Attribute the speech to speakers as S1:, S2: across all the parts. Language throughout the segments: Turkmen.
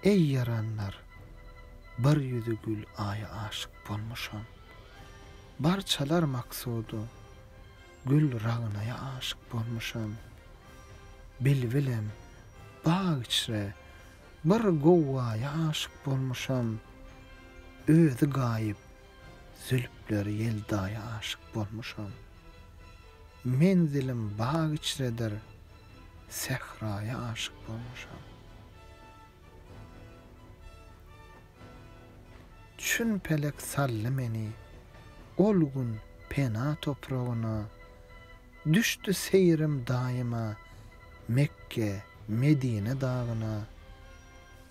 S1: Eý ýaranlar! Bir ýüzi gül Aýa aşyk bolmuşam. Bar çalar maksudy gül Ragnaýa aşyk bolmuşam. Bilbilem, bag içre bir gowwaýa aşyk bolmuşam. Özi gaýyp, zülpleri ýeldaýa aşyk bolmuşam. Menzilim bag içredir. Sähraýa aşyk bolmuşam. Çün pelek saldy meni ol gün pena topragyna, Düşdi seýrim daýyma Mekge, Medine dagyna.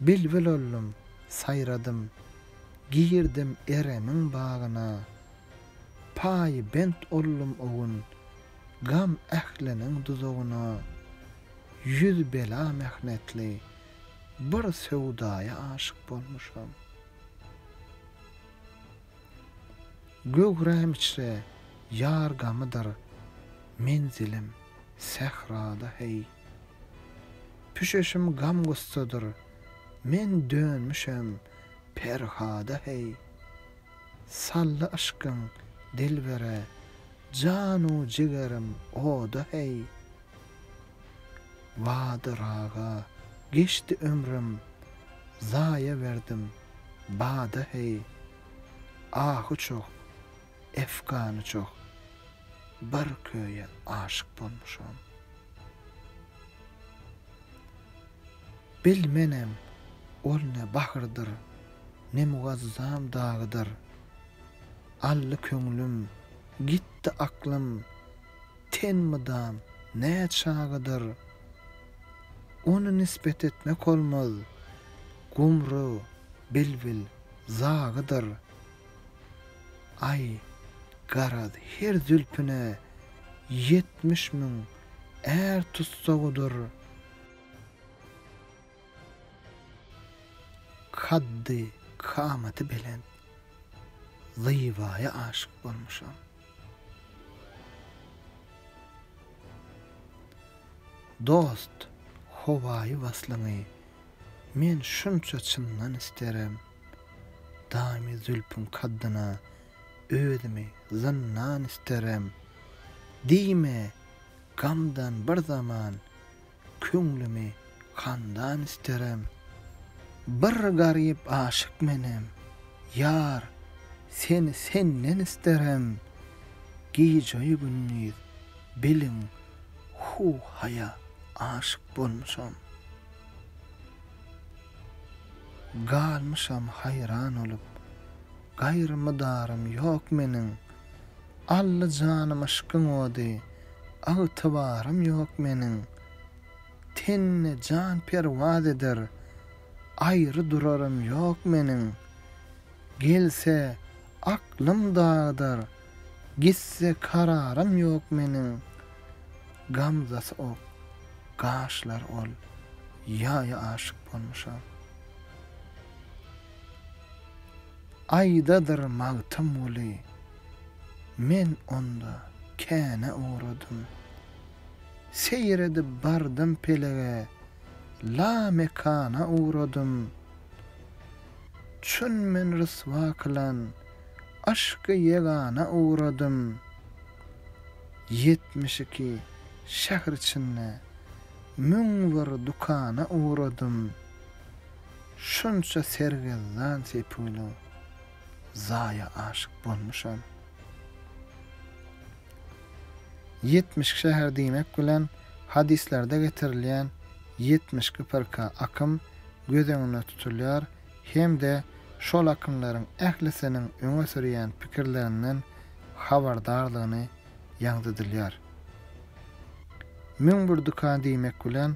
S1: Bilbil oldum, saýradym, girdim Eremiň bagyna, Paýybent oldum o gün, Gam ähliniň duzagyna ýüz bela mähnetli bir söwdaýa aşyk bolmuşam. Göwräm içre ýar gamydyr menzilim sährada heý. Püşeşim gam-gussadyr men dönmüşem Perhada heý. Saldy yşkyň dilbere Janu jigerim oda heý. Badyr aga geçdi ömrüm zaýa berdim bada heý Ahy çoh efgany çoh bir köýe aşyk bolmuşam Bilmenem ol ne bahyrdyr ne mugazzam dagydyr Aldy köňlüm, gitdi aklym, Ten mydam, nä çagydyr. Ony nisbet etmek olmaz, Gumry, bilbil, zagydyr. Aý, garaz, her zülpüne Ýetmiş müň är tussagydyr. Kaddy kamaty belent Zybaýa aşyk bolmuşam. Dost, howaýy waslyňy men şunça çyndan isterim. Damy zülpüň kaddyna özümi zyndan isterim. Diýme, gamdan bir zaman Köňlümi handan isterem. Bir garyp aşyk menem. Ýar, seni senden isterem. Gije-ýu gündiz, biliň, hu-haýa aşyk bolmuşam. Galmyşam haýran olup. Gaýry mydarym ýok meniň. Alla janym yşkyň ody, Ygtybarym ýok meniň. Tende jan perwaz eder, Aýry durarym ýok meniň. Gelse, aklym dagydar, Gitse, kararym ýok meniň. Gamzasy ok, gaşlary ol, Ýaýa aşyk bolmuşam. Aýdadyr Magtymguly, Men onda känä ugradym. Seýredip bardym pelege, Lamekana ugradym. Çün men ryswa kylan Aşky ýegana ugradym. Ýetmiş iki şähr içinde Müň bir dükana ugradym. Şunça sergezdan sepulyň zaýa aşyk bolmuşam. Ýetmiş şäher diýmek bilen hadyslarda getirilýän ýetmiş gypyrka akym göz öňüne tutulýar hem-de şol akymlaryň ählisiniň öňe sürýän pikirlerinden habardardygyny ýaňzydylýar. Müň bir dükan diýmek bilen